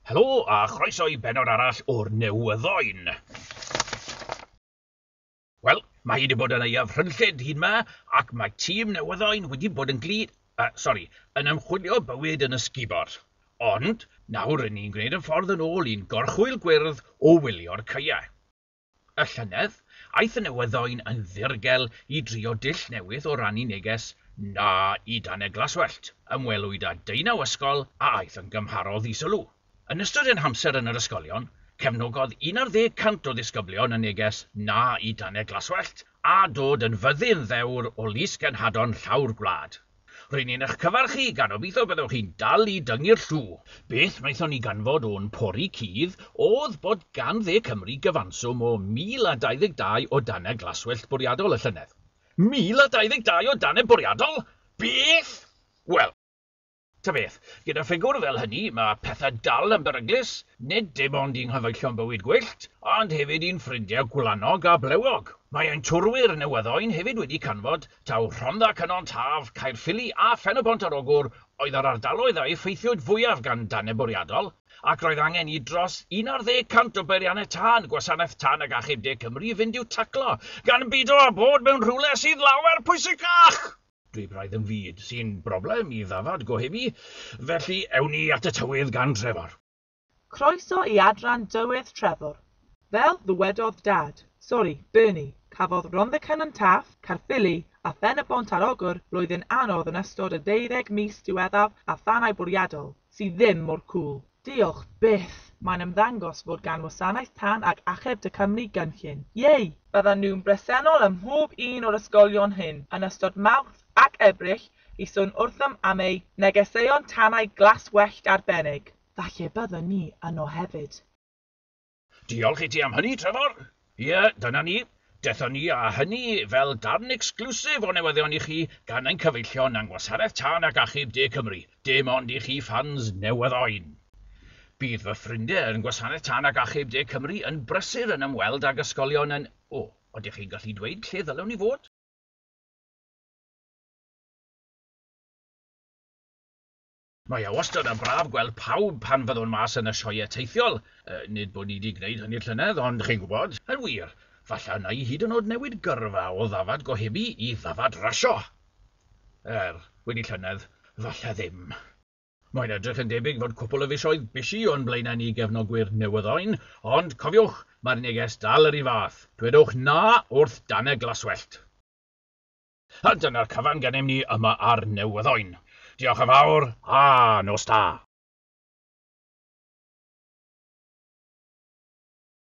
Helo a chroeso i benod arall o'r Newyddoen. Wel, mae hi wedi bod yn aeaf rhynllyd hyd ma, ac mae tîm Newyddoen wedi bod yn gli... Uh, sorry, yn ymchwilio bywyd yn ysgubor. Ond, nawr rydyn ni'n gwneud yn ffordd yn ôl i'n gorchwyl gwyrdd o wylio'r caeau. Y llynedd, aeth y newyddoen yn ddirgel i drio dull newydd o rannu neges 'Na i dan y glaswellt'. Ymwelwyd â deunaw ysgol a aeth yn gymharol ddisylw. Yn ystod ein hamser yn yr ysgolion, cefnogodd un ar ddeg cant o ddisgyblion y neges 'Na i dan y glaswellt', a dod yn fyddin ddewr o lys genhadon llawr gwlad. Rŷn ni'n eich cyfarchu, gan obeithio byddwch chi'n dal i dyngu'r llw. Beth wnaethon ni ganfod o'n pori cudd oedd bod gan Dde Cymru gyfanswm o 1,022 o danau glaswellt bwriadol y llynedd. 1,022 o danau bwriadol? Beth? Wel, ta beth, gyda ffigwr fel hynny, mae pethau dal yn beryglus, nid dim ond i'n nghyfeillion bywyd gwyllt, ond hefyd i'n ffrindiau gwlanog a blewog. Mae ein twrwyr newyddo'n hefyd wedi canfod Taw Rhondda Cynon Taf, Caerffili a Phen-y-bont ar Ogwr oedd yr ardaloedd a effeithiwyd fwyaf gan dannedd bwriadol, ac roedd angen i dros un ar ddeg cant o beiriannau tân Gwasanaeth Tân ac Achub De Cymru fynd i'w taclo, gan bido â bod mewn rhywle sydd lawer pwysicach! Dwi braidd yn fud sy'n broblem i ddafad gohebu, felly ewn ni at y tywydd gan Trefor. Croeso i adran Dywydd Trefor. Fel ddywedodd Dad, sori, Bernie, cafodd Rhondda Cynon Taf, Caerffili a Phen-y-bont ar Ogwr flwyddyn anodd yn ystod y deuddeg mis diweddaf a thanau bwriadol, sydd ddim mor cŵl. Diolch byth! Mae'n ymddangos fod gan Wasanaeth Tân ac Achub Tŷ Cymru gynllun. Yay! Byddan nhw'n bresennol ym mhob un o'r ysgolion hyn yn ystod Mawrth ac Ebrill i sôn wrthym am eu negeseuon tanau glas wellt arbennig. Falle bydden ni yno hefyd. Diolch i ti am hynny, Trevor. Ie, dyna ni. Dethon ni â hynny fel darn exclusive o newyddion i chi gan ein cyfeillion yng Ngwasanaeth Tân ac Achub De Cymru, dim ond i chi ffans newyddoen. Bydd fy ffrindie yn Gwasanaeth Tân ac Achub De Cymru yn brysur yn ymweld ag ysgolion yn... O, odych chi'n gallu dweud lle ddylwn i fod? Mae e wastad yn braf gweld pawb pan fyddwn mas yn y sioeau teithiol. Nid bod ni 'di gwneud hynny llynedd, ond chi'n gwybod. Yn wir, falle wna i hyd yn oed newid gyrfa o ddafad gohebu i ddafad rasio! Er, wedi llynedd, falle ddim. Mae'n edrych yn debyg fod cwpwl o fisoedd bysi o'n blaenau ni gefnogwyr newyddoen, ond cofiwch, mae'r neges dal yr un fath, dwedwch 'na' wrth danau glaswellt! A dyna'r cyfan gennym ni yma ar Newyddoen. Diolch yn fawr a nos da!